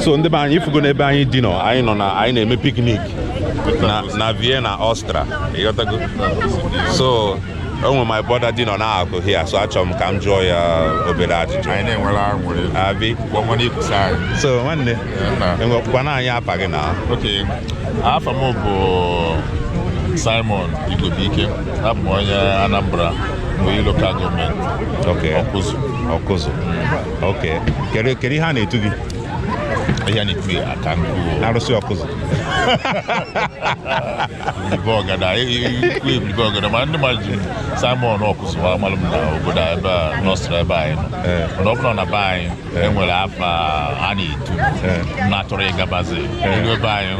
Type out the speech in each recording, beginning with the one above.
so ndị be anyị ị fụgo n'ebe anyị dị nọ anyị nọ na anyị na-eme piknik na na Vienna Austria ịghọtago so o nwe my brother dị nọ n'akụkụ hia so achọrọ m ka m jụọ ya obere ajụjụ anyị na-enwere aṅụrị abi gbanwere ikwusa anyị so nwanne gwakwana anyị afa gị na ok afa m bụ Simon Igbodike abụ m onye Anambra Oyi lokal gọọmenti Ọkụzụ Ọkụzụ ok kedu kedu ihe a na-etu gị ihe a na-etu ya aka nkụ arụsị Ọkụzụ ibe ọgada ikwu ibilibe ọgada ma ndị mmadụ ji Simon Ọkụzụ wee malụ m na obodo a ebe a nọsịrị ebe anyị nọ Ee. mana ọ bụrụ na be anyị e nwere afa a na-etu Ee. mana tupu ị gabazie iru ebe anyị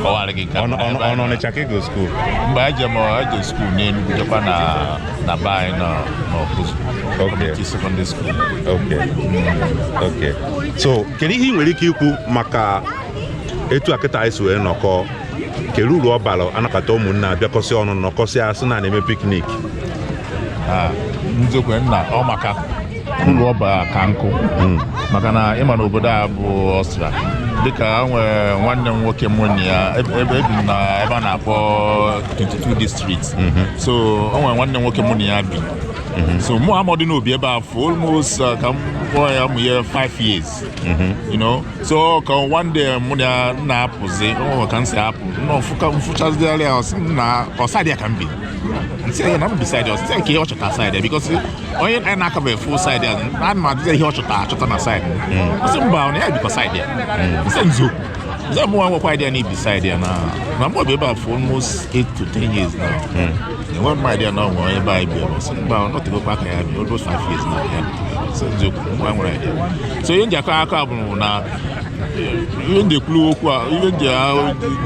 kọwara gị nke a Ọnụ- ọnụ- ebe anyị ọnụ nọ. Ọnịcha ka ị go skuul mgbe anyị jem eje skuul n'Enugu jekwa na na be anyị nọ n'Ọkụzụ Community Secondary School Okay. Okay. so kedu ihe ị nwere ike ikwu maka etu a kịta anyị si wee nọkọọ kere uru ọ bara a nakọta ụmụnne a bịakọsịa ọnụ nọkọsịa a sị na a na-eme piknik Ah, n'eziokwu nna ọ maka uru ọ bara ka nkụ hmm. maka na ị ma na obodo a bụ Austria dịka e nwere nwanne m nwoke m nwanne ya ebe ebi m na ebe a na-akpọ 22 district hmm. so o nwere nwanne m nwoke m na ya bi hmm. so mụ amadị na o bi ebe a for almost uh, ka m kpọọ ya mụ ya 5 years you know so ka one day mụ na ya na-apụzi ọ ka m si apụ mfụchazidịara ya ọsa dị ya ka m bi m sị ya na m bi side a ọ sị nke ya ọ chọta side a because onye anyị na-akabeghị full side a na ma adịghị ihe ọ chọta achọta na side a ọ sị hmm. mba na ya bikwa side a ọ sị hmm. nzu nze mụ nwekwa idea na i bi side a na na mụ bi ebe a for almost 8 to 10 years now hmm. enwe m idea na ọnwa ebe anyị bịara ọ sị mba ọ nọtebekwa aka ya bi almost 5 years na ya ọ sị nzu mụ nwere idea so ihe m ji akọ akọ a bụrụ na ihe ndị kwuru okwu a ihe ndị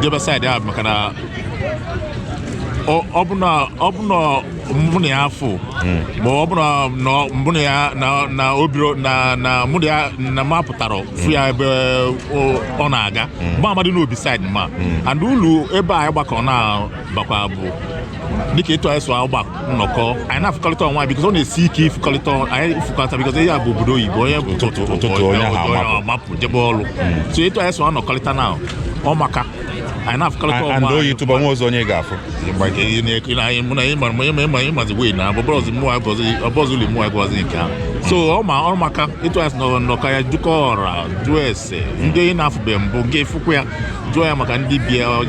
debe side a maka na ọ bụ na mụ na ya afụ ma ọ bụrụ na mụ na ya na o birọ na mụ na ya na m apụtara fụ ya ebe ọ na-aga mgbe amadị na o bi side ma and ụlọ ebe anyị gbakọ na-abakwa bụ dịka etu anyị si agba nnọkọ anyị na-afụkọrịta onwe because ọ na-esi ike ịfụkọrịta anyị ịfụkọrịta because ya bụ obodo oyibo onye bụ ụtụtụ onye ahụ amapụ jebe ọrụ so etu anyị si anọkọrịta na ọ maka anyị na-afụkọrịta onwe anyị yitụba nwa ọzọ onye ga-afụ ịmazi wee na abụbọzi mụwa gọzi ọbọzi ụlọ mụwa gọzi nke ahụ so ọ ma ọrụ maka ịtụ asị nọrọ nnọkọ ya jụkọ ọra jụọ ese ndị onye na-afụbe mbụ nke fụkwa ya jụọ ya maka ndị be ya ọ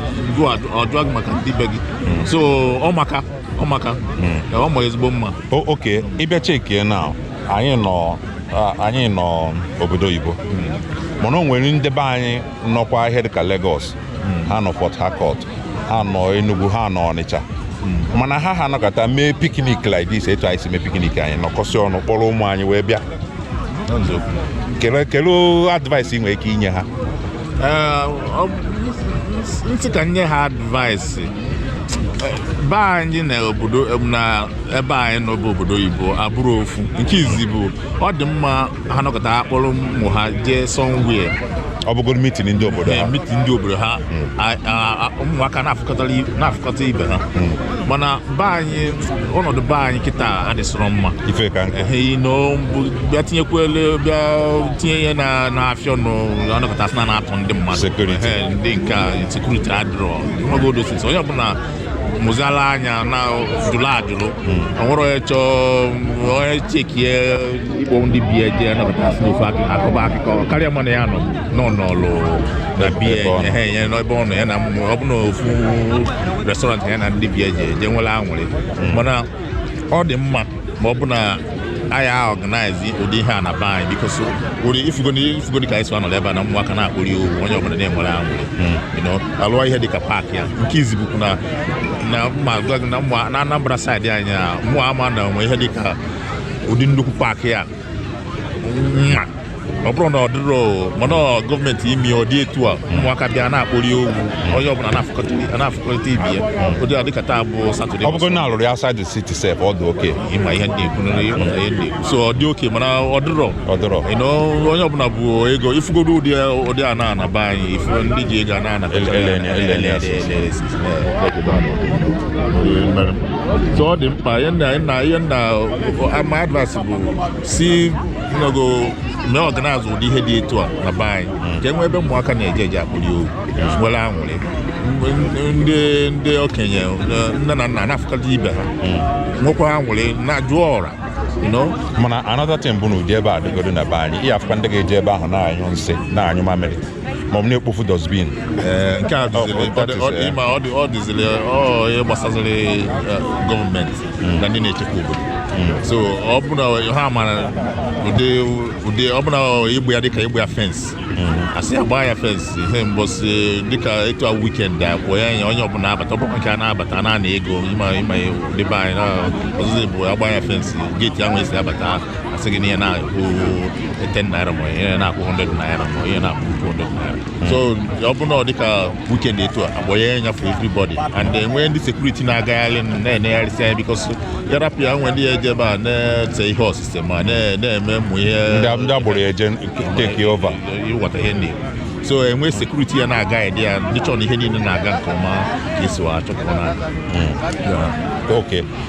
jụọ gị maka ndị be gị hmm. so ọ maka ọ maka hmm. ọ ma ezigbo mma ok ị bịa chekie na anyị nọ anyị nọ obodo oyibo hmm. mana o nwere ndị be anyị nọkwa ihe dịka Lagos ha nọ Port Harcourt ha nọ Enugu ha nọ Ọnịcha mana ha ha nọkọta mee piknik like this etu anyị si mee piknik anyị nọkọsị ọnụ kpọrọ ụmụ anyị wee bịa kelee advice ị nwere ike inye ha m sị ka nye ha advice be anyị na obodo na ebe anyị nọ bụ obodo oyibo abụrọ ofu nke izi bụ ọ dị mma ha nọkọta ha kpọrọ ụmụ ha jee somewhere ọ bụgoro mitin ndị obodo ha mitin ndị obodo ha a- a- a- ụmụaka na-afụkọtara i- na-afụkọta ibe ha mana be anyị ọnọdụ be anyị kịta adịsịrọ mma ife ka nkụ ehe ino mbụ bịa tinyekwele bịa tinye ihe na na-afịa ọnụ ịnọkọta sị na na-atụ ndị mmadụ Security. Ehe, ndị nke a sekuriti adịrọ ọnọgodo sisi onye ọbụla mụzala anya na jụrụ ajụrụ ọ bụrụ onye chọọ onye chekie ịkpọ ndị be ya je anabata si n'ofe akụ- akọba akụkọ kara ya mma na ya nọ nọ nọlụ na be ya Ebe ọ nọ. ehe ya n'ebe ọ nọ ya na mmụ- ọ bụ na ofu restọrantị ya na ndị be ya je je nwere anwụrị mana ọ dị mma ma ọ bụ na anyị aọganaizi ụdị ihe a na be anyị bikos ị fụgodi ka anyị si wee nọrọ ebe a na ụmụaka na-akpori owu onye ọbụla na-enwere anwụrị hmm. a lụọ ihe dịka paakị a nke izi bụkwu na na mma na Anambra saịdị anyị mụwa ama na o nwe ihe dịka ụdị nnukwu paakị a ọ bụrụ na ọ dịrọ mana gọọmenti mee ọ dị etu a ụmụaka bịa na-akpọli owu onye ọbụla na-afụkọrịta ibe ya ụdị a dịka taa bụ satọde ọ bụgo na a lụrụ ya insaịdị siti sef ọ dị oke ị ma ihe m ji ekwu nri ị ghọta ihe m ji ekwu so ọ dị oke mana ọ dịrọ ọ dịrọ onye ọbụla bụ ego ị fụgodo ụdị ụdị a na-ana be anyị ị fụ ndị ji ego a na-ana so ọ dị mkpa ihe m na ihe m na-ama advaịsị sị na gọọmenti ọganaizi ụdị ihe dị etu a na be anyị ka e nwee ebe ụmụaka na-eje eje akpọli owu nwere anwụrị ndị ndị okenye nne na nna na-afụkọta ibe ha nwekwa anwụrị na-ajụ ọra mana another thing bụ na ụdị ebe a dịgodo na be anyị ị ya-afụkwa ndị ga-eji ebe ahụ na-anyụ nsị na-anyụ mamịrị ma ọ bụ na-ekpofu dustbin eh, nke a ọ dịziri ihe gbasaziri eh, government na ndị na-echekwa obodo hmm. so ọ bụla ha mara ụdị ọ bụla ịgba ya dịka ịgba ya fence hmm. asị ya gbaa ya fence ihe mbọsị dịka etu a weekend a kwụọ ya anya onye ọbụla abata ọbụla nke a na-abata na-ana ego ịma ịma debe anyị ọzụzụ bụ agba ya fence gate ahụ esi abata ahụ asị gị na ihe na-akwụ 10 naira ma ihe na-akwụ 100 naira ma ihe na-akwụ 200 naira so ọ bụrụ na ọ dịka weekend etu a agbanye ya nya for everybody and enwee ndị security na-agagharị na-enegharịsị anya because ya rapụ ya nwee ndị ya eje ebe a na-ese ihe osise ma na-eme ụmụ ihe ndị agboro eje take over ịghọta ihe ndị so enwee security ya na-aga ede ya ndị chọrọ ihe niile na-aga nke ọma ka e si achọ ka ọ na-aga hmm. ok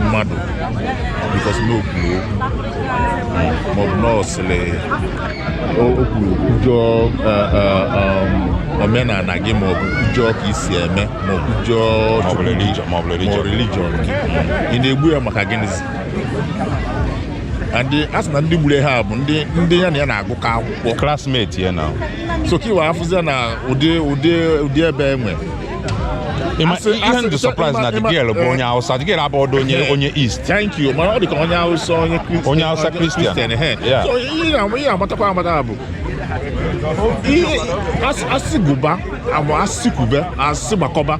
mmadụ because na o kwuru okwu maọbụ na ọsịrị o kwuru kwujọọ omenala gị maọbụ kwujọọ ka i si eme maọbụ kwujọọ maọbụ religion ị na-egbu ya maka gịnịzi ndị a sị na ndị gburu ha bụ ndị ndị ya na ya na-agụkọ akwụkwọ classmate ya na so ka i wee afụzi na ụdị ụdị ụdị ebe enwe Ịma- Asị- ihe asị- ndụ surprise ịma- na ịma- the girl bụ eh. onye Hausa the girl abụrọdụ onye Eh. onye East thank you mana ọ dị ka onye Hausa onye Christian- Onye Hausa Christian. ehe. Yeah. So, ihe na- ihe amatakwa amata bụ ihe as- asị gụba ma asị kwube asị gbakọba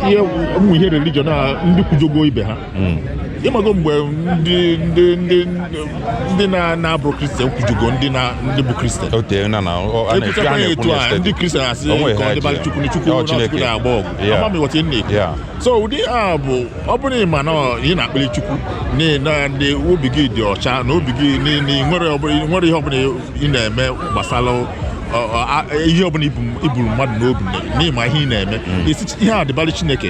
ihe ụmụ ihe religion a ndị kwujọgo ibe ha hmm. ịmago mgbe ndị ndị ndị ndị na-abụrọ Christian kwujọgo ndị na ndị bụ Christian ekwuchakwa ya etu a ndị Christian asị ka ọ dịbara chukwu na chukwu chukwu na-agba ọgụ ama m ịghọta na-ekwu so ụdị a bụ ọ bụrụ ịma na ị na-ekpeli chukwu na ndị obi gị dị ọcha na obi gị nwere ihe ọbụla ị na-eme gbasara ihe ọbụla iburu mmadụ n'obi na ị ma ihe ị na-eme mm. ihe a dịbara Chineke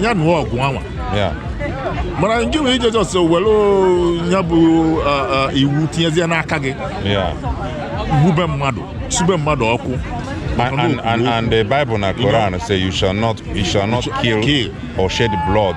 ya nụọ ọgụ anwa mana nke nwere ije just were ya bụ iwu tinyezie n'aka gị gbube mmadụ sube mmadụ ọkụ and, and, and the Bible and Quran you know, say you shall not you shall not kill, kill or shed blood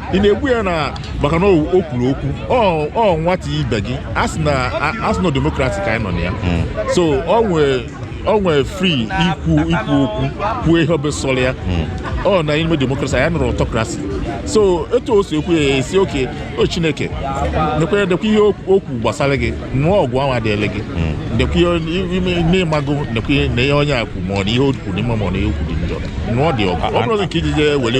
ị na-egbu ya na maka na o o kwuru okwu ọ ọ nwata ibe gị a sị na a- a sị na democracy ka anyị nọ na ya so ọ nwee ọ nwee free ikwu ikwu okwu kwuo ihe ọbụla sọrọ ya ọ na ime democracy anyị nọrọ autocracy so etu o si ekwu ya asị okay o chineke nekwe nekwe ihe okwu okwu gbasara gị nụọ ọgụ ahụ adịele gị nekwe ihe ime n'ịmago nekwe na ihe onye a kwu ma ọ na ihe o kwu dị mma ma ọ na ihe o kwu dị njọ nụọ dị ọgụ ọ bụrụ na nke iji jee were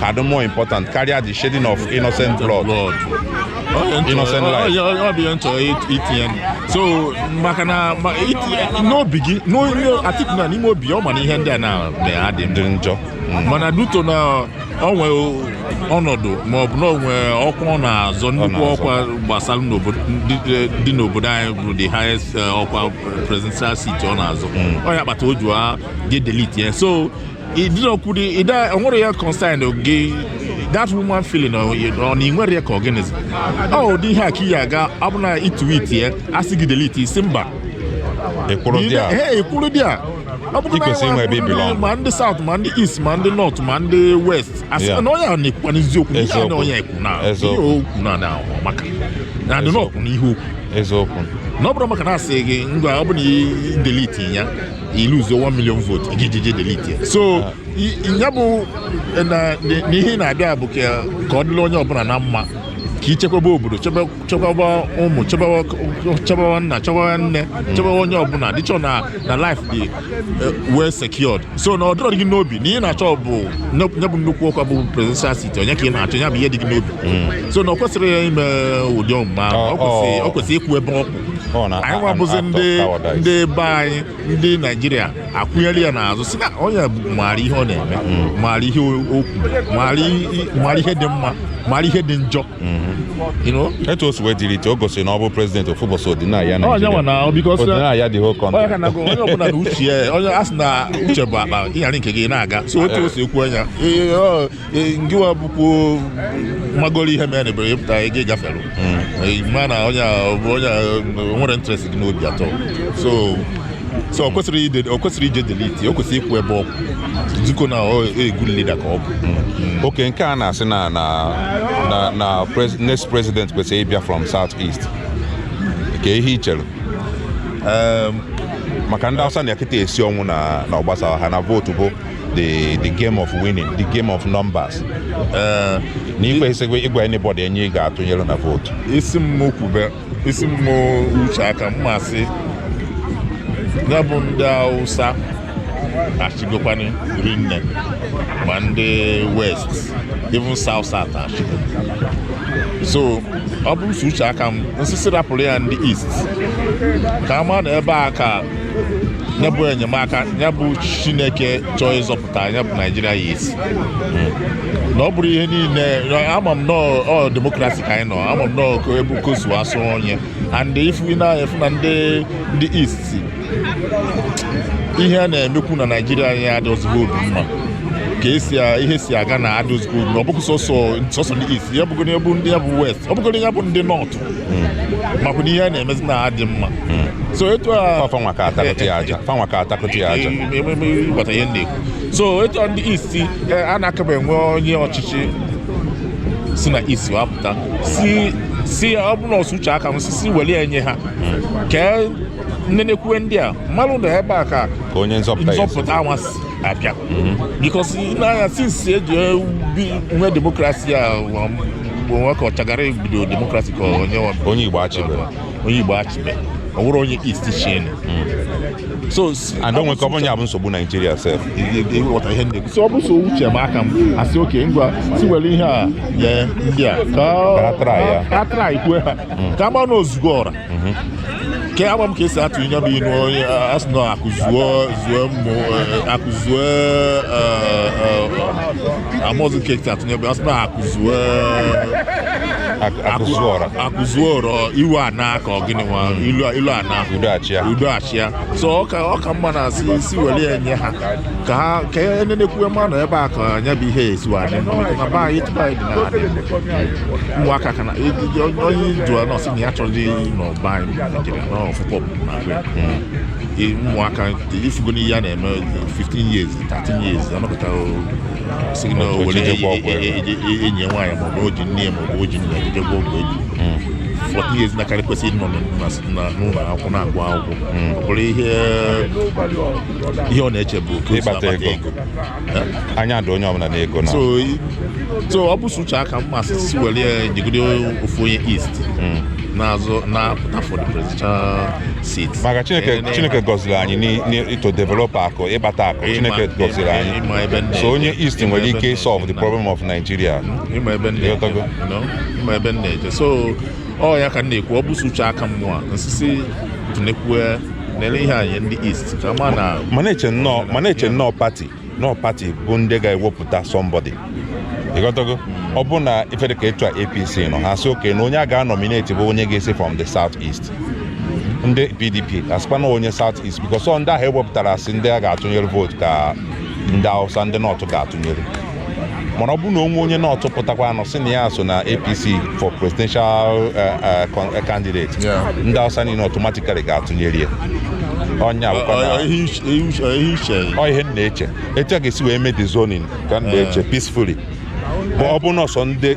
ka dị more important karịa the shedding of innocent blood innocent life ọ bụ ihe m chọrọ itinye so maka na n'obi gị atiku na n'ime obi ọ ma na ihe ndị a na-adị ndị njọ mm. mana due to na ọ nwere ọnọdụ ma ọ bụ na o nwe ọkwa ọ na-azọ nnukwu ọkwa gbasara dị n'obodo anyị bụ the highest eh, ọkwa presidential seat ọ na-azọ mm. ọ ya kpata o ji ga delete ya so idinokwudi ide o nwere ya concern gị that human feeling ọ na ị nwere ya ka ọ gịnịzi ọ ụdị ihe a ka iyi aga ọ bụ na i tweet ya a sị gị delete ị sị mba ekwuru dị a Ee, ekwuru dị a Ọ bụrụ na i kwesịrị inwe ebe i belong. ma ndị south ma ndị east ma ndị north ma ndị west a sị Yeah. na onye a na-ekwukwa n'eziokwu ihe a na Eziokwu. onye ekwu na ihe Eziokwu. okwu na na ọ maka na adị na ọ kwụ n'ihe okwu eziokwu na ọ bụrụ maka na a sị gị ngwa ọ bụ na i delete ya i lose 1 million vote i ji je delete ya so ya bụ na ihe ị na-abịa bụ ka ọ dịla onye ọbụla na mma ka i chekwaba obodo chekwaba ụmụ chekwaba nna chekwaba nne chekwaba onye ọbụla dịchọ na na life dị eh, well secured so na ọ dịrọ gị n'obi na ị na-achọ bụ ihe bụ nnukwu ọkwa bụ presidential seat onye ka ị na-achọ ya bụ ihe dị gị n'obi hmm. so na o kwesịrị ya ime ụdị omume a o kwesịrị ịkwụ ebe ọ kwụ anyị nwabụzi ndị ndị be anyị ndị naijiria akwụnyere ya n'azụ sị na onye maara ihe ọ na-eme mm. maara ihe okwu maara ihe dị mma maara ihe dị njọ mm-hmm. etu o si wee delete o gosiri na ọ bụ president ofu ụbọchị ọdịnaya naijiria dị oke ọnụ onye ọbụla na uche onye a sị na uche bụ akpa i nyara nke gị na-aga so etu o si ekwu anya ngịwa bụkwa magoro ihe mere bere ịpụta gị gafere hmm. ma na onye onye nwere interest gị n'obi at all so so o kwesịrị ije delete o kwesịrị ịkwụ ebe ọ kwụ zikwa na a good leader ka ọ bụ hmm. okay nke a na-asị na na na next president kwesịrị ịbịa from south east kee ihe i chere maka ndị awụsa na kịta esi ọnwụ na ọ gbasa ha na vote bụ the the game of winning the game of numbers eh, na i kwesịkwa ịgwa anybody onye ị ga-atụnyere na vote ị sị mụ kwube ị sị mụ uche aka m a sị ya bụ ndị Hausa achịgokwana rinne ma ndị west even south south achịgo so ọ bụrụ so uche aka m m sị si rapụrụ ya ndị east ka a ma na ebe a ka ya bụ enyemaka ya bụ chineke chọọ ịzọpụta ya bụ naijiria ya a sị na ọ bụrụ ihe niile ama m na ọ demokrasi ka anyị nọ ama m na ọ ebe kosu asụ onye and ị fụ na a fụ na ndị ndị east ihe a na-emekwu na naijiria anyị adịrọzikwọ obi mma ka esi ihe si aga na adịrọzikwọ ọ bụghị sọsọ sọsọ ndị east ya bụgoro ya bụ ndị ya bụ west ọ bụgoro ya bụ ndị north hmm. maka na ihe a na-emezi na adị mma hmm. so etu a fanwa ka atakụtụ ya aja fanwa ka atakụtụ ya aja ememe ị ghọta ihe m na-ekwu so etu ndị East eh, a na-akaba enwe onye ọchịchị si na East wee pụta si si ọ bụrụ na ọ sọ uche m aka m asị si welụ ya nye ha hmm. ka e nenekwue ndị a mmanụ na ebe a ka onye nzọpụta anyị ga-esi abịa because nee anya since e ji nwee demokrasi a Igbo nwa ka Shagari bido demokrasi ka onye nwa onye Igbo achịbere onye Igbo achịbere ọ bụrụ onye East chịa hmm. so and o nwee ike ọ bụ nya bụ nsogbu Naijiria sef ị ghọta ihe ndị so ọ bụ sọ uche m aka m asị okay ngwa si were ihe a nye ndị a ka a traịkwue ha hmm. ka ọ ga-abụ na o zugo ọra mhm. ke agba m ka e si atụ ihe bụ inu onye asị na akụ zuo zuo mmụ eh, akụ zuo eh, eh, amarọzi m ka e si atụ ihe bụ asị na akụ zuo akụ zuo ọra iwe anaa ka ọ gịnị nwa ilo anaa udo achịa so ọ ka mma na a sị si were ya nye ha ka ha ka e nenekwue mmanụ ebe a ka nya bụ ihe esi wadị na be anyị tụmadị na ụmụaka ka na onye jụọ nọsị ya chọrọdị n'obodo anyị Naịjirịa na ọfụkọ na-agwa ụmụaka ị fụgonụ ihe a na-eme 15 years 13 years a nọpụta sị na o were enyi ya nwaanyị maọbụ o ji nne ya maọbụ o ji nna ya ji jee gwọọ ọgwụ age 14 years nwatakịrị kwesịrị ịnọ n'ụlọ akwụkwọ na-agụ akwụkwọ ọ bụrụ ihe ọ na-eche bụ ka o si akpata ego anya dị onye ọbụla n'ego na so ọ bụ sọ uche m aka m asị were ya jigide ofu onye east hmm. na-azọ na-apụta for the presidential seat maka chineke chineke gọziri anyị na to develop akụ ịkpata akụ chineke gọziri anyị so onye east nwere ike solve the problem of nigeria ị ma ebe m na-eje so ọ ya ka m na-ekwu ọ bụ sọ uche m aka m asị si tụnyekwue nele ihe anyị ndị East kama na m na-eche na ọ m na-eche na ọ pati na ọ pati bụ ndị ga-ewepụta sọmbọdị ị ghọtago ọ bụrụ na ife dịka kịta APC nọ ha sị okay na onye a ga-anọmineti bụ onye ga-esi from the South East ndị PDP asịkwa na onye South East because ọ ndị ahụ e wepụtara sị ndị a ga-atụnyere vootu ka ndị Hausa ndị North ga-atụnyere mana ọ bụrụ na o nwee onye north pụtakwanụ sị na ya so na apc for presidential eh, eh, con- eh, candidate Yeah. ndị hausa niile automatically ga-atụnyere ya onye abụkwa na Ọ- ihe uche- ihe uche- ihe uche ya. ọ ihe m na-eche etu a ga-esi wee mee the zoning ka m na-eche peacefully bụ ọ bụ nọọ sọ ndị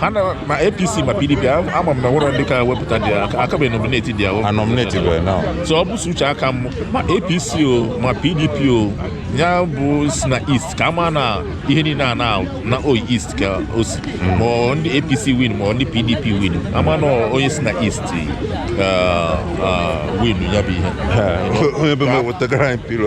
ha na ma apc ma pdp ama m na e nwere ndị ka wepụta ndị a kabeghị nomineti ndị ahụ anomineti bụ na so ọ bụ sọ uche aka m ma apc o ma pdp o ya bụ si na east ka a ma na ihe niile a na ọ na east ka o si hmm. ma ndị apc win ma ndị pdp win a ma na onye si na east uh, uh, win ya bụ ihe onye be m wetagara anyị pilo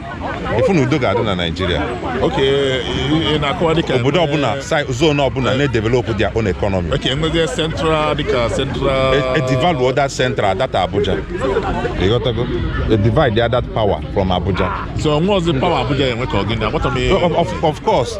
ị fụ na udo ga-adị na naijiria obodo ọbụla zone ọbụla na-edevelopụ their own economy edivaluo e, e that central that abuja ị ghọtago e divide ya that power from abuja so nwe ọzọ power abuja enwe ka ọ gịnị of course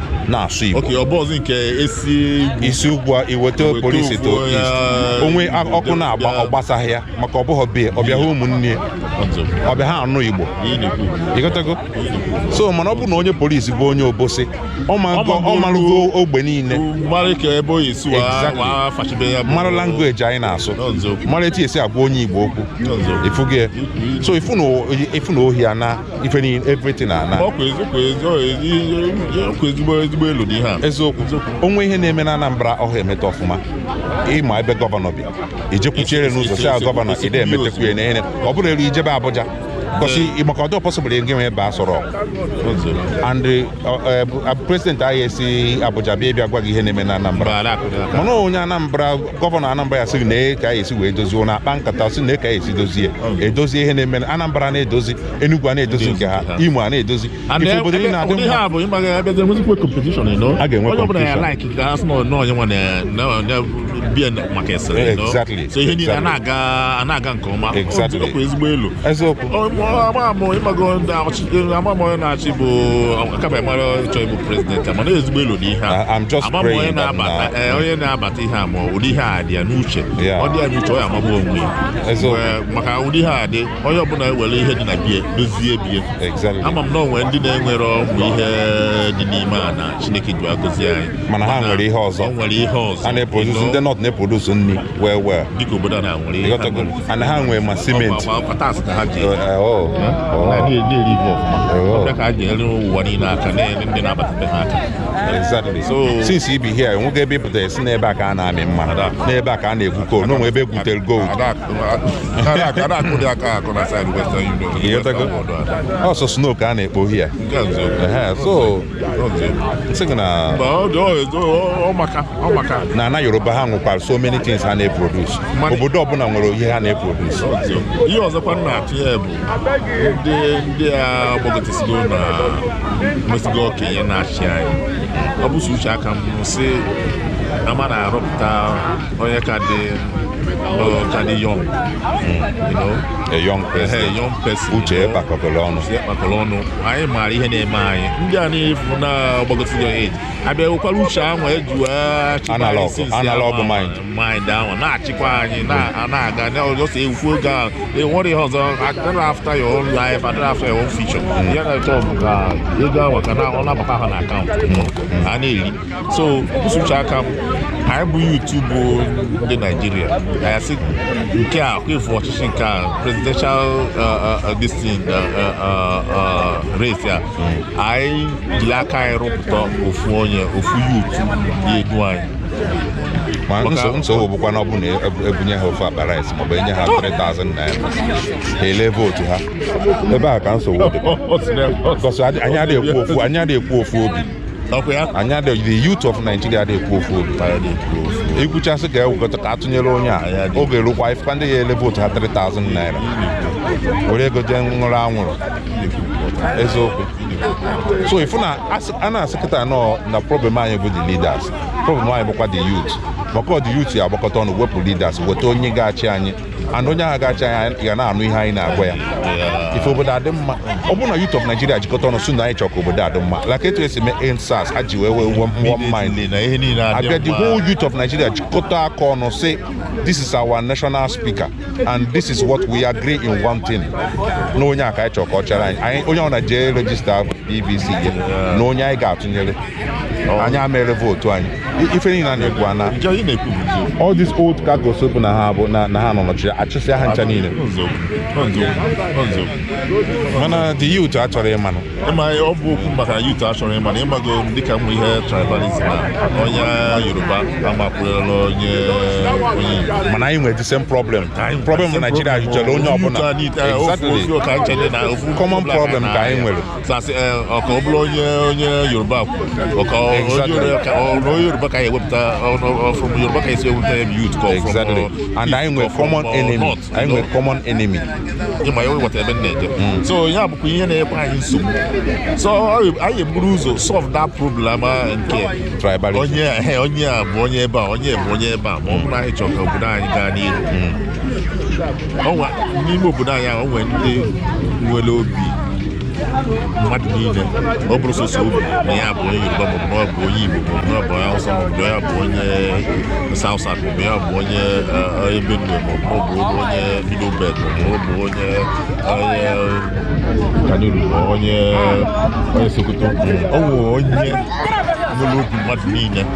na-asụ Igbo okay ọ bụzi nke e si ugwu i si ugwu a iweta Iweta polisi to ugwu, east ya- o nwee a- ọkụ na-agba ya- ọ gbasaghị ya maka ọ bụghị be ya ọbịa ha ụmụnne ya ọzọ ọbịa ha anụ Igbo ihe a na-ekwu ị ghọtago so mana ọ bụ na onye polisi bụ onye obosi ọ ma- Ọ ma ọ marụgo ogbe niile mara ka ebe ohi si wa Exactly. wa fachibe ya bụ- mara language anyị na-asụ N'ọzọ. mara etu e si agwa onye Igbo okwu N'ọzọ. ị fụgo so ị fụ na o- ị fụ na ohi ana ife niile everything ana ọ kwa ezigbo ezigbo elo dị ihe a eziokwu o nwee ihe na-eme na Anambra ọ hara emeta ọfụma ị ma ebe gọvanọ bi i jee kwụchiere n'ụzọ sị ya gọvanọ ị dị emetakwa ya na ọ bụrụ e ruo i jebe Abuja gosi maka ọ dịhọ possible gị nwa ịba Aso Rock prezidenti anyị esi Abuja bịa bịa gwa gị ihe na-eme na Anambra mana onye Anambra gọvanọ Anambra ya sịrị nee ka anyị esi wee dozie na a kpaa nkata sị nee ka anyị esi dozie edozie ihe na-eme na Anambra na-edozi Enugu a na-edozi nke ha Imo a na-edozi ị fụ obodo niile na-adị mma a ga-enwe competition exactly so ihe niile a na-aga nke ọma ezigbo elo ama mụ ị mago ndị ama mụ onye na-achị bụ akaba mara chọọ ịbụ prezidenti mana ezigbo elo n'ihe a amamụ onye na-abata ee onye na-abata ihe a ma ụdị ihe a dị ya n'uche ọ dị ya n'uche ọ ya-amagbu onwe ya maka ụdị ihe a dị onye ọbụla ewere ihe dị na be ya dozie be ya ama m na o nwe ndị na-enwerọkwa ihe dị n'ime ana chineke ji agọzi anyị mana ha nwere ihe ọzọ nwere ihe ọzọ a na-eprodusu ndị north na-eprodusu nri wee wee dịka obodo a na-nwere ihe ana ha nwere ma simenti since i bi here enweghị ebe ị pụta a sị n'ebe a ka a na-amị mmanụ ebe a ka a na-egwu coal na o nwee ebe e gwutere gold ọ sọ snow ka a na-ekpo here so na na yoruba ha nwekwara so many things ha na-eproduce obodo ọbụla nwere ihe ha na-eproduce ihe ọzọkwa nna atụ ya bụ ndị ndị a gbagotesigo na mesigo okenye na-achị anyị ọ bụsụ uche aka m si ama na-arọpụta onye ka dị ka dị young a young person Ehe, young person, uche you know. kpakọbere ọnụ Uche kpakọrọ ọnụ anyị maara ihe na-eme anyị ndị a na-afụ na gbagotego eji abịa wekwara uche ahụ eji wee achịkwa anyị Analog, since ya analog ma- mind. mind ahụ na-achịkwa anyị na- a na-aga na ọ just okwu ego ahụ enwerọ ihe ọzọ adịrọ after your own life adịrọ after your own future ihe ha na-achọ bụ ka ego ahụ ka na- ọ na-abata ha na akaụntụ a na-eri so nkwụsị uche aka m anyị bụ youth bụ ndị naijiria anyị sị nke a kwefu ọchịchị nke a presidential distin race a anyị jiri aka anyị rọpụta ofu onye ofu youth ya-edu anyị ma nso nsogbu bụkwa na ọ bụ na ebunye ha ofu akpa rice maọbụ enye ha 3000 naira ha ele vootu ha ebe a ka nsogbu dị Ọ sị na- ọ sị- gọsị anyị adịghị ekwu ofu anyị adịghị ekwu ofu obi anyị the youth of Nigeria na-ekwu ofu obi ekwuchasị ka ewekọta ka atụnyere onye a oge rukwa ị fụkwa ndị ya-ele vootu ha 3000 naira were ego jee ṅụrụ anwụrụ eziokwu so ị fụ na a na-asị kịta na problem anyị bụ the leaders problem anyị bụkwa the youth maka ọ the youth ya-agbakọta ọnụ wepụ leaders weta onye ga-achị anyị and onye ahụ ga-achị anyị ga na-anụ ihe anyị na-agwa ya ị fụ obodo adị mma ọ bụrụ na youth of Nigeria jikọta ọnụ sị na anyị chọrọ ka obodo adị mma like etu esi mee EndSARS ha ji wee wee wụọ mmụọ mind abịa the whole youth of Nigeria jikọta aka ọnụ sị this is our national speaker and this is what we agree in one thing na onye a ka anyị chọrọ ka ọ chịrị anyị onye ọbụna jee rejista PVC ya na onye anyị ga-atụnyere anyị ewere vootu anyị ife niile a na-ekwu na all these old cargos bụ na ha bụ na ha nọ nọchiri achụsịa ha ncha niile mana the youth achọrọ ịmanụ ịma ọ bụ okwu maka youth achọrọ ịmanụ ị mago dịka mma ihe tribalism onye yoruba amakwụrụla onye mana anyị nwere the same problem problem na Naịjirịa zuchara onye ọbụla common problem ka anyị nwere ha sị eh, ka ọ bụrụ onye onye yoruba kwuru ọka onye yoruba ka a ya-ewepụta from yoruba ka esi ewepụta ya youth ka exactly uh, and anyị nwere common enemy anyị nwere common enemy ị ma ya awọta ebe m na-eje mm. so ya bụkwa ihe na-enye anyị nsogbu so anyị eburu ụzọ solve that problem uh, nke onye eh, onye a bụ onye ebe a onye bụ onye ebe a ma ọ bụrụ anyị chọrọ ka obodo anyị gaa n'ihu mm. n'ime obodo anyị ahụ nwere ndị nwere obi mmadụ niile ọ bụrọ sọsọ obi na ya bụ onye yoruba maọbụ na ọ bụ onye igbo maọbụ na ọ bụ onye awụsa maọbụ na ya bụ onye south south maọbụ ya bụ onye eh, Benue maọbụ ọ bụ onye middle belt maọbụ ọ bụ onye onye kanuru onye onye sokoto ọ nwere onye nwere obi mmadụ niile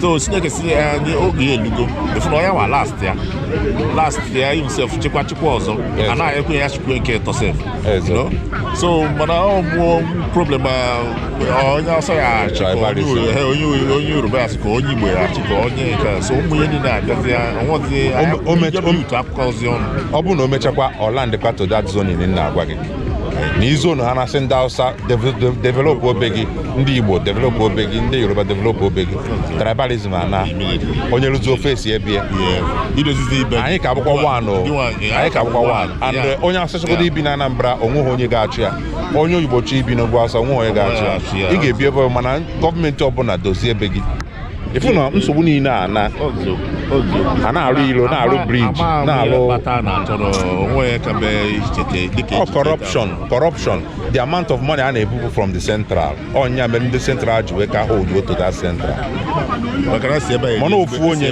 so chineke si ya ndị oge ya elugo efu na ọ ya nwa last ya last ya himself chekwa chekwa ọzọ Yes. anaghị ekwe ya chukwu nke tọsef Yes, sir. so mana ọ mụọ problem ah, onye awụsa ya achị ka onye Tribalism. Uru- eh, onye Uru- onye yoruba ya achị ka onye igbo ya achị ka onye nke a. so ụmụ ihe niile abịazi ya ọnwụzi O- o mecha- o- otu akụkọ ozi ọnụ ọ bụrụ na o mechakwa ọ landịkwa to that zone m na-agwa gị na i zonu ha na-asị ndị Hausa develop ebe gị ndị Igbo develop ebe gị ndị Yoruba develop ebe gị tribalism ana onye rụzi ofe esi ebe ya anyị ka abụkwa one anyị ka abụkwa one and onye awụsa chọgodo ibi na Anambra o nweghị onye ga-achụ ya onye Igbo chọọ ibi n'ugwu awụsa o nweghị onye ga-achụ ya ị ga-ebi ebe mana gọọmenti ọbụla dozie ebe gị ị fụ na nsogbu niile a na a na-arụ ilo na-arụ briji na-arụ ọ corruption corruption the amount of money a na-ebupu from the central ọ ya mere ndị central ji wee ka hot that central mana ofu onye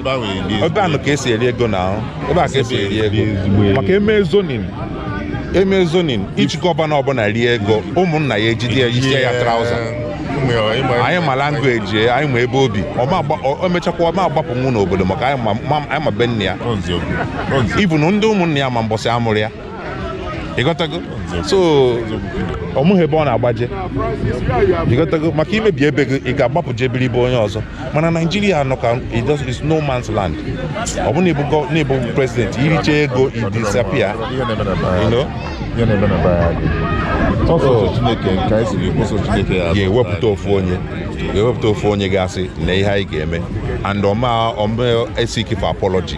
ebe anụ ka esi eri ego na ahụ ebe a ka esi eri ego maka e mee zoning e mee zoning each gọvanọ ọbụla rie ego ụmụnna ya ejide ya isi ya trauza anyị ma language ya anyị ma ebe o bi o mechakwa ọ ma agbapụnwu n'obodo maka anyị ma be nne ya even ndị ụmụnna ya ma mbọsị a mụrụ ya ịghọtago so o nweghị ebe ọ na-agbaje ịghọtago maka i mebi ebe gị ị ga-agbapụ je biri ebe onye ọzọ mana naijiria nọ ka is no man's land ọ bụ na ị bụ prezidenti i richa ego i disappear e wepụta ofu onye ga-ewepụta ofu onye ga-asị na ihe anyị ga-eme and ọ ma ask for apology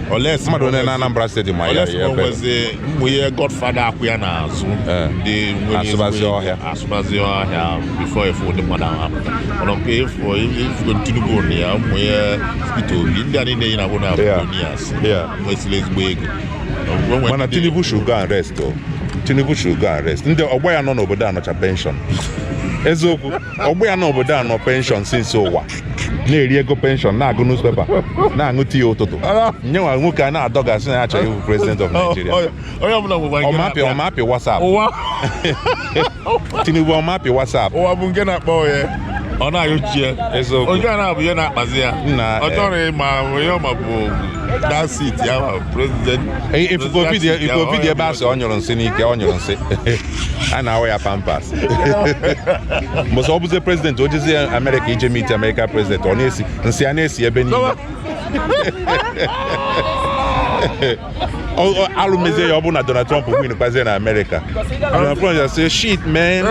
Unless mmadụ onye na Anambra steeti ma ya ya ebe mgbe ihe godfather akwụ ya n'azụ eh. ndị asụbazi ọhịa asụbazi ọhịa before ị fụ ndị mmadụ ahụ apụta mana nke efu efugo Tinubu na ya ụmụ ihe Peter Obi ndị a niile yi na abụ billionaires nwesịrị ezigbo ego mana Tinubu should go and rest o Tinubu should go and rest ndị ọgbọ ya nọ n'obodo a nọcha penshọn eziokwu ọgbọ ya nọ n'obodo a nọ penshọn since ụwa na-eri ego penshọn na-agụ newspaper na-aṅụ tii ụtụtụ onye nwa nwoke a na-adọgasị na ya chọrọ ịbụ president of Nigeria onye ọbụla nwekwa nke ọmapị na-akpa ọmapị wasap ụwa tinubu ọmapị wasap ụwa bụ nke na-akpọ ya ọ na-ayọchi ya Eziokwu. onye a na-abụ ihe na-akpazi ya Nna, ọ eh. chọrọ ịma onye ọma bụ that seat ya ma president ifufe obi dị president seat ya, ifufe obi dị ọ ebe a sị ọ nyụrụ nsị n'ike ọ nyụrụ nsị a na-awụ ya pampas mbọsị ọ bụzi prezident o jezi amerịka ije meet amerịka prezident ọ na-esi nsị a na-esi ebe niile alụ mezie ya ọ bụrụ na Donald Trump win kwazie na Amerịka Donald Trump ya-asị shit man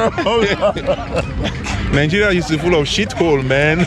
Nigeria is full of shit hole man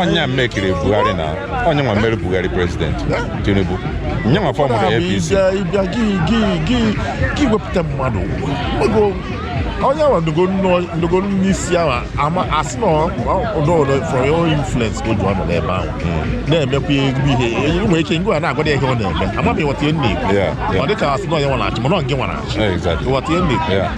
onye mmekiri Buhari na onye nwa mere Buhari prezidenti Tinubu nye nwa fọmụrụ APC ị bịa gị wepụta mmadụ onye ahụ ndogo n'isi ahụ a ma asị na ọdọọdọ for your influence ka o ji nọ n'ebe ahụ hmm. na-emekwa ezigbo ihe anyị nwere ike ngwa na-agwa ihe ọ na-eme amaghị m ị ghọta ihe m na-ekwu ọ dị ka asị na onye nwa na-achị mana ọ nke nwa na-achị ị ghọta ihe m na-ekwu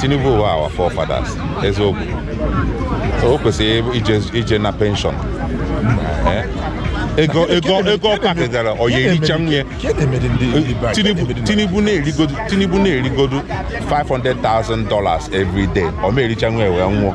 Tinubu bụ our forefathers eziokwu o kwesịrị ije na penshọn eh? ego ego ego ọ pakịgara ọ ya-erichanwu ya tinubu na-erigodu tinubu na-erigodu 500,000 dollars every day ọ ma erichanwu ya wee nwụọ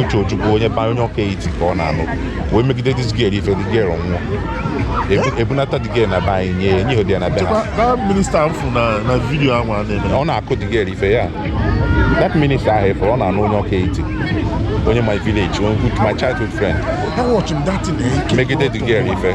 uche ojukwu onye be anyị onye Ọka Etiti ka ọ na-anụ wee megide this girl ife the girl nwụọ ebunata the girl na be anyị nye nye di ya na be ha ọ na-akụ the girl ife ya that minister ahụ efere ọ na-anụ onye Ọka Etiti onye my village my childhood friend megide the girl ife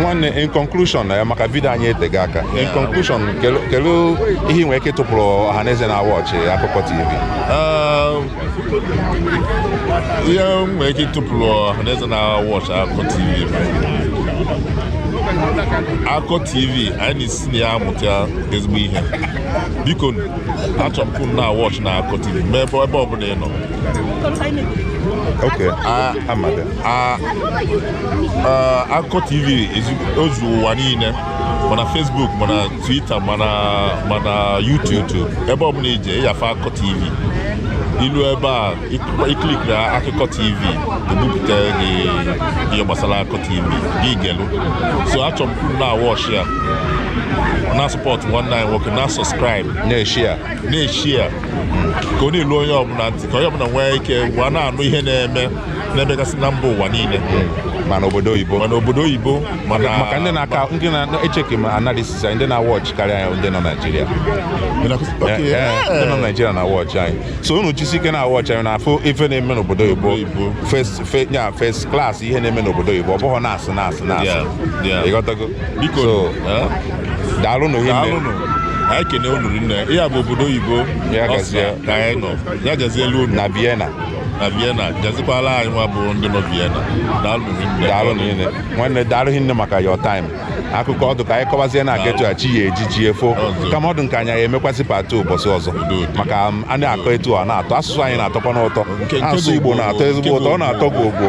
nwanne in conclusion na eh, ya maka vidio anyị etega aka in conclusion kelu ihe i nwere ike ịtụpụrụ ọha na eze na-awọchị akụkọ tv um, ihe m nwere ike ịtụpụrụ ọha na eze na-awọchị akụkọ tv akụkọ tv anyị na-esi na ya amụta ezigbo ihe biko achọrọ m na-awọchị na akụkọ tv mee ebe ọ bụla ị nọ Okay, ah, amada. Ah, ah, Akụkọ TV o zu ụwa niile ma na Facebook ma na Twitter ma na ma na YouTube ebe ọbụla i je ị ya-afụ Akụkọ TV i lu ebe a i klikiri Akụkọ TV ebupụta gị ihe gbasara Akụkọ TV gị gelu so achọrọ m na-awọchi ya na-asọpọtụ nwanne anyị nwoke na-asọskraịbụ na-eshia na-eshia ka ọ na-elu onye ọbụla ntị ka onye ọbụla nwee ike gwa na-anụ ihe na-eme na-emegasị na mba ụwa niile mana obodo oyibo mana obodo oyibo mana maka ndị na-aka ndị na-echeki ma analysis anyị ndị na-awọchị karịa anyị ndị nọ Naịjirịa Okay, Eh, eh, yeah. ndị nọ Naịjirịa na-awọchị anyị so unu jisi ike na-awọchị anyị na-afụ ife na-eme n'obodo oyibo Oyibo. first fe- ya first class ihe na-eme n'obodo oyibo ọ bụghị na-asị na-asị na-asị Yeah, yeah. ịghọtago biko daalụ na ohi anyị kene unu nne ihe a bụ obodo oyibo ya gazielu unu na Vienna na Vienna gazikwala anyị nwa bụ ndị nọ Vienna daalụ niile nwanne daalụ hinne maka your time akụkọ ọ dụ ka anyị kọwazie na-aga etu a chi ya eji ji efo kama ọ dụ nke anyị anyị emekwasị part two ụbọchị ọzọ maka um, a na-akọ etu a na-atọ asụsụ anyị na-atọkwanụ ụtọ asụsụ Igbo na-atọ ezigbo ụtọ ọ na-atọ gị ogbo